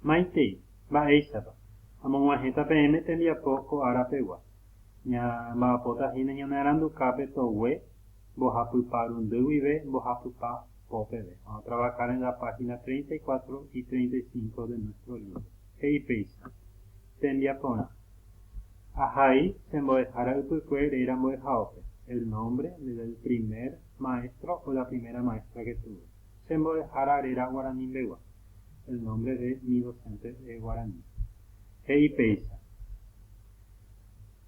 Maitei, mba'éichapa? Amog̃uahẽta peẽme tembiapo ko ára pegua. Ña mba'apóta hína ñanearanduka pe togue mbohapypa rundy guive mbohapypa po peve. Vamos a trabajar en la página 34 y 35 de nuestro libro. He'i péicha, Tembiaporã. Ahai che mbo'ehára ypykue réra mbo'ehaópe, el nombre del primer maestro o la primera maestra que tuve. Che mbo'ehára réra guaranimbegua, el nombre de mi docente es guaraní. He'i péicha.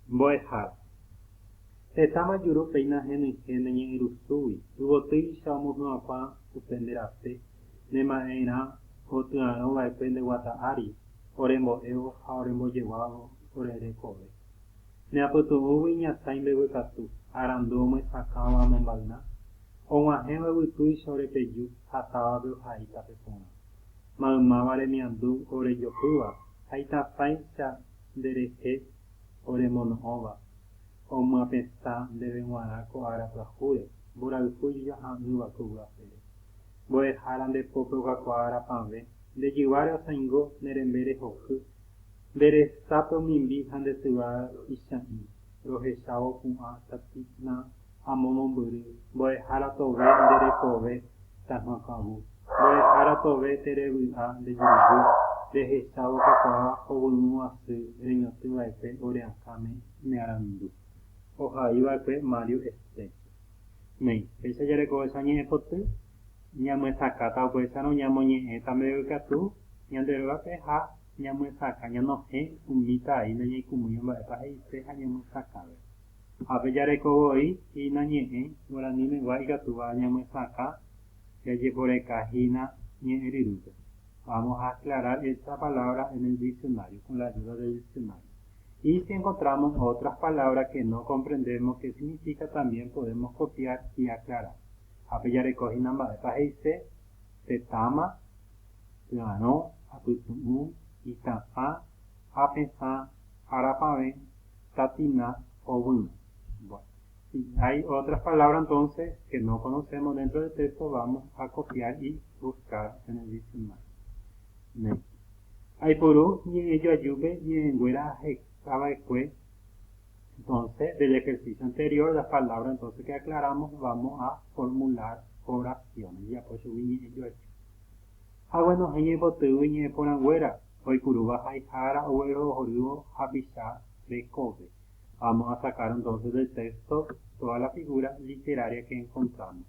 Mbo'ehára. Heta majuru péina henyhẽ ne ñe'ẽrusúgui, yvotýicha omohy'ãkuã upe nde rape, ne ma'erã otyarõ va'ekue nde guata ári, ore mbo'évo ha ore mbojeguávo ore rekove. Ne apytu'ũgui iñatãi mbeguekatu, arandu omyesakãva amombayna, og̃uahẽva yvytúicha ore peju ha távape ohaíta pe porã. Maymáva remiandu ore jopýva ha itatãicha nde rehe ore mono'õva, omyapetã ndéve g̃uarã ko ára pyahúre, mborayhu ijojaha'ỹva ko vy'apére. Mbo'ehára nde pópe okakuaa rapãve, nde jyváre osãingo ne rembe rehoky Nde resápe omimbi ha nde syva icha'ĩ, rohechávo pu'ã tatýtna amo mombyry, mbo'ehára tove nde rekove tahã ka'u, mbo'ehára tove tere vy'a nde juruvy, rehechávo kakuaa ovy'ũ asy reñotỹ vaekue ore akãme ne arandu. Ohai vaekue Mario Estrecho. Néi, péicha jarekovecha ñe'ẽpoty, Ñamyesakãta upéicharõ ñamoñe'ẽta mbeguekatu ñande rógape ha ñamyesakã ñanohẽ umíta ai nañaikũmýiva mba'épa he'ise ha ñamyesakãve. Ha pe jareko voi hína ñe'ẽ guaranímegua ikatúva ñamyesakã jajeporeka hína ñe'ẽ ryrýpe. Vamos a aclarar esta palabra en el diccionario, con la ayuda del diccionario. Y si encontramos otras palabras que no comprendemos que significa también podemos copiar y aclarar. Ha pejareko hína mba'épa he'ise pe táma, py'arõ, apytu'ũ, itã'ã, apesã, arapavẽ, tatina, ovýma. Bueno, si hay otras palabras entonces que no conocemos dentro del texto vamos a copiar y buscar en el diccionario. Néi. Aiporu ñe'ẽjoajúpe ñe'ẽnguéra ahecha va'ekue Entonce del ejercicio anterior las palabras entonce que aclaramos vamos a formular oraciones japo chugui ñe'ẽ joaite Aguenohẽ ñaipotýgui ñe'ẽ porãnguéra oikurúva haihára oguerohorývo hapicha rekove Vamos a sacar entonces del texto todas las figuras literarias que encontramos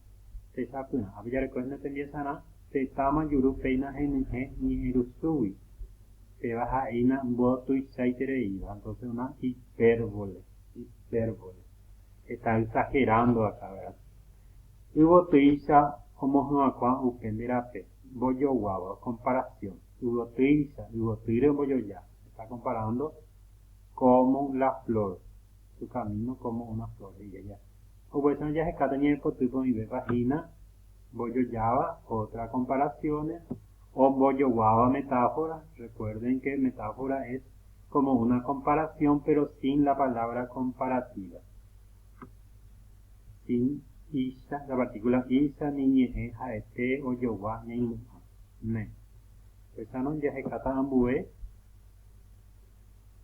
Techapyrã ape jarekóhenda tembiasarã tetã manjuru péina henyhẽ ñe'ẽrusúgui Péva ha'éina mbódo tuichaitereíva, entonces una hipérbole, hipérbole. Heta exagerando akã, vera. Yvotýicha omohyakuã upe nde rape, mbojoguáva, comparación. Yvotýicha, yvotýre ombojoja. Está comparando como la flor, su camino como una flor, he'i aja. Upéicharõ jahekáta ñañepotýpe oĩvépa hína mbojojáva, otras comparaciones. Ombojoguáva metáfora, recuerden que metáfora es como una comparación pero sin la palabra comparativa, sin icha, la partícula icha, ni ñe'ẽ ha'ete, ojogua, ñaimu'ã, ne. Péchano jahekáta ambue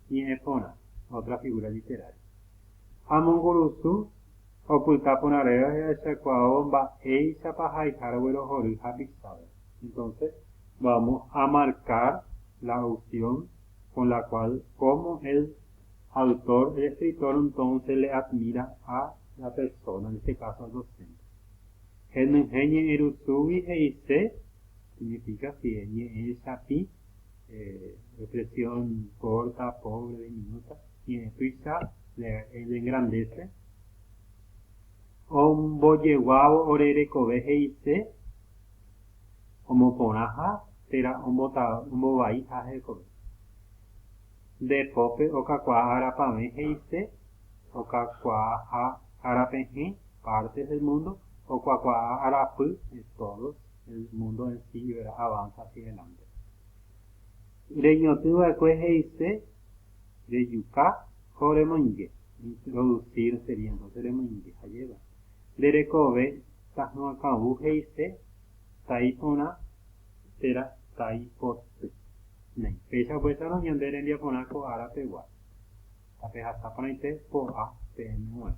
ñe'ẽ porã, otra figura literaria. Amongurusu. Opyta porã reve jahechakuaávo mba'éichapa haiha roguerohory hapisápe. Entonces, vamos a marcar la opción con la cual cómo el autor, el escritor entonces le admira a la persona, en este caso al docente. Henyhẽ ñe'ẽrusúgui he'ise, significa si ñe'ẽchapĩ, Reflexión corta, pobre, diminuta, tiene prisa, le engrandece. Ombojeguávo ore rekove he'ise omoporãha térã ombovaiha hekove. Nde pópe okakuaa arapavẽ he'ise okakuaaha arapehẽ, partes del mundo, okuakuaa arapy, de todos. El mundo en sí vera avanza hacia adelante. Reñotỹ va'ekue he'ise rejuka ko remoinge, introducir sería entonces remoinge ha jeva. Nde rekove ta hỹa kavũ he'ise tai porã térã tai poty. Néi, péicha upéicharõ ñande rembiaporã ko ára pegua. Tapehasa porãite po'a peẽme g̃uarã.